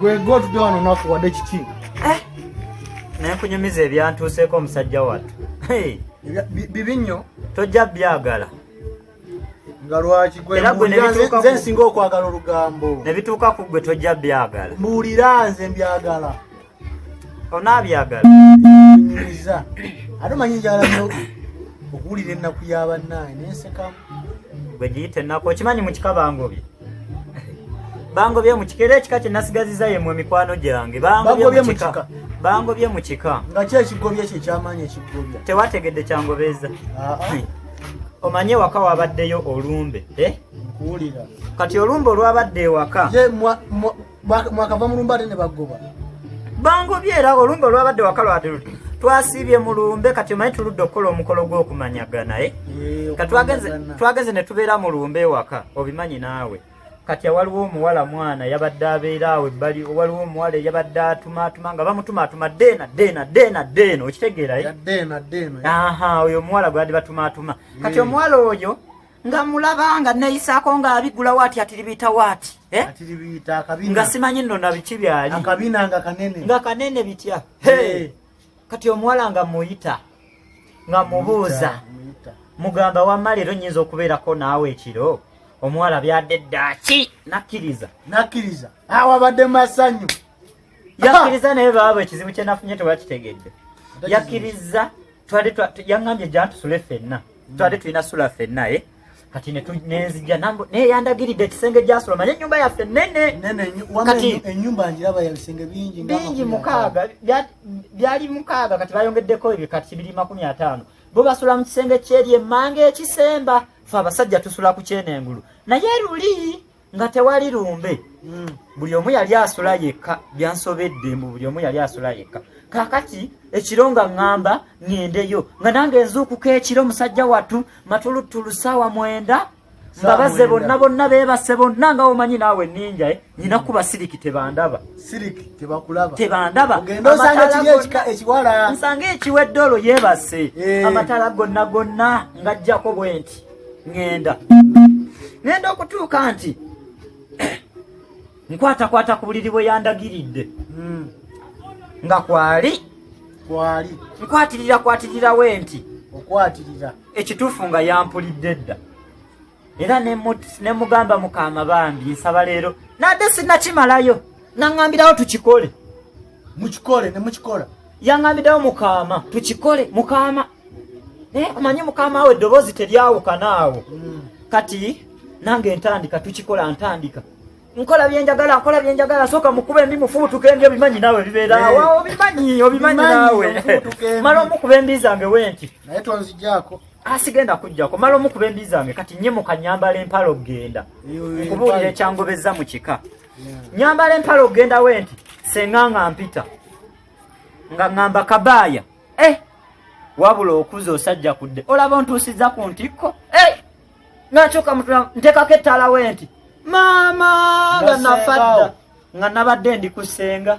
gwegotudde wano nakuwadde kiki eh? naye kunyumiza ebyantuuseeko omusajja wattu bibi nnyo tojja byagala nga lwaki gwenze nsinga okwagala olugambo ne bituuka ku gwe tojja byagala mbuulira nze mbyagala onaabyagala nyumiza ate omanyi njala nyo okuwulira ennaku ya bannaye nensekamu gwe giyita ennaku okimanyi mu kika bangobye bangobye mu kika era ekika kye nasigaziza yemu emikwano gyange bangobye mu kika bangobye mu kika nga ki ekigobye kye kyamaanyi ekigobya tewategedde kyangobeeza ah, ah. hmm. omanye ewaka wabaddeyo olumbe eh? kuwulira kati olumbe olwabadde ewaka mwakava mu lumbe ate ne bagoba bangobye era olumbe olwabadde wakalwade luti twasiibye mu lumbe kati omanyi tuludde okukola omukolo gw'okumanyagana e twagenze ne tubeera mu lumbe ewaka obimanyi naawe kati awaliwo omuwala mwana yabadde abeera awo ebbali waliwo omuwala eyabadde atumaatuma nga bamutumaatuma deena deena deena deena okitegeerayo aha oyo omuwala gweyadde batumaatuma kati omuwala oyo nga mulaba nga neyisaako nga abigula waati atiribiita waati eh? nga simanyi nno na biki byali nga kanene bitya kati omuwala nga muyita nga mubuuza mugamba wamma leero nyinza okubeerako naawe ekiro omuwala byadde ddaaki nakkiriza nakkiriza awabadde masanyu yakkiriza naye baaba ekizibu kye nafunye tewakitegedde yakkiriza twali yaŋambye gyantusule fenna twali tulina sula fenna e kati nenzija naye yandagiridde ekisenge gyasula manye enyumba yaffe nenebingi mukaaga byali mukaaga kati bayongeddeko ebyo kati kibiri makumi ataano bo basula mu kisenge kyeri emmanga ekisemba fe abasajja tusula ku kyenengulu naye luli nga tewali lumbe hmm. buli omu yali asula yekka byansobedde mbu buli omu yali asula yekka kakati ekiro nga ŋŋamba ŋŋendeyo nga nange nzuukuka ekiro musajja wattu matuluttulu ssaawa mwenda mbabaze bonna bonna beebase bonna nga omanyi naawe ninja eh? nyina kuba siriki tebandaba tebandabansanga ekiwedde olwo yeebase eh. amatala gonna gonna ng'ajjako bwenti ŋŋenda ŋŋenda okutuuka nti nkwatakwata ku buliri bwe yandagiridde hmm. nga kwali kwali nkwatirira kwatirira we nti okwatirira ekituufu nga yampulidde dda era ne mugamba mukaama bambi nsaba leero nadde sinakimalayo naŋambirawo tukikole mukikole ne mukikola yangambiddewo mukaama tukikole mukaama naye eh, omanyi mukaama awo eddoboozi teryawukana awo hmm. kati nange ntandika tukikola ntandika nkola byenjagala nkola byenjagala soka mukuba embi mufubutuka embi obimanyi nawe bibeerawo eh. obimanyi obimanyi nawe mala omukuba embi zange wenti naye tonzijako asigenda ah, kujjako mala omukuba embi zange kati nyimuka nyambala empala okugenda nkubuulira ekyangobezza mu kika nyambala empala okugenda we nti senga nga mpita nga ŋŋamba kabaaya e wabula okuza osajja kudde olaba ontuusiza ku ntikko e eh! nakyoka mutula ntekako ettaala we nti maama nga nafadda nga nabadde ndi ku senga